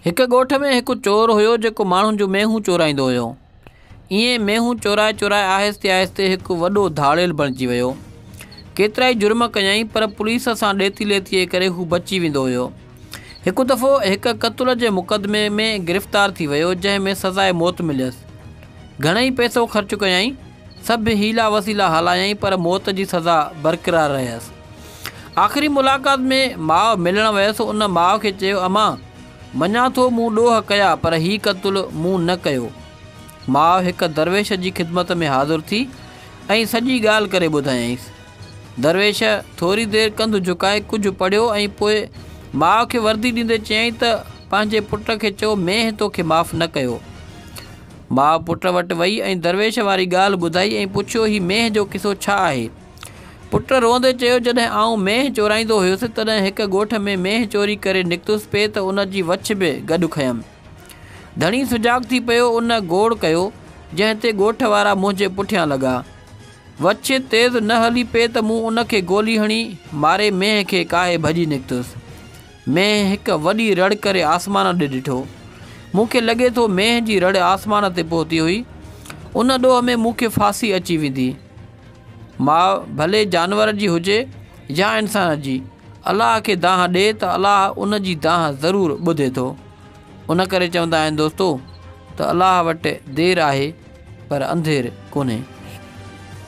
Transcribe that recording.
هڪ ڳوٺ ۾ هڪ چور هيو جيڪو ماڻهن جون مينهون چورائيندو هيو. ائين مينهون چورائي چورائي آهستي آهستي هڪ وڏو ڌاڙيل بڻجي ويو. ڪيترائي جرم ڪيائين پر پوليس سان ڏيتي ليتيء ڪري هو بچي ويندو هيو. هڪ دفعو هڪ قتل جي مقدمي ۾ گرفتار ٿي ويو جنهن ۾ سزائي موت مليس. گهڻئي پئسو خرچ ڪيائين، سڀ حيلا وسيلا هلايائين پر موت جي سزا برقرار رهيس. آخري ملاقات ۾ ماء ملڻ ويس ان ماء کي چيو امان مڃان ٿو مون ڏوهه ڪيا پر هي قتل مون نه ڪيو. ماء هڪ درويش جي خدمت ۾ حاضر ٿي ۽ سڄي ڳالهه ڪري ٻڌايائينس. درويش ٿوري دير ڪنڌ جهڪائي ڪجهه پڙهيو ۽ پوء ماء کي وردي ڏيندي چيائين ته پنهنجي پٽ کي چئو مينهن تو کي معاف نه ڪيو. ماء پٽ وٽ وئي ۽ درويش واري ڳالهه ٻڌائي ۽ پڇيو هي مينهن جو قصو ڇا آهي؟ پٽ روئندي چيو، جڏهن آئون مينهن چورائيندو هيس، تڏهن هڪ ڳوٺ ۾ مينهن چوري ڪري نڪتس پئي ته ان جي وڇ به گڏ کنيم. ڌڻي سجاڳ ٿي پيو، ان گوڙ ڪيو، جنهن تي ڳوٺ وارا منهنجي پٺيان لڳا. وڇ تيز نه هلي پئي ته مون ان کي گولي هڻي، ماري مينهن کي ڪاهي ڀڄي نڪتس. مينهن هڪ وڏي رڙ ڪري آسمان ڏي ڏٺو. مون کي لڳي ٿو مينهن جي رڙ آسمان تي پهتي هئي. ان ڏوهه ۾ مون کي ڦاسي اچي ويندي. ماء ڀلي جانور جي هجي يا انسان جي الله کي دانهن ڏي ته الله ان جي دانهن ضرور ٻڌي ٿو ان ڪري چوندا آهن دوستو ته الله وٽ دير آهي پر انڌير ڪونهي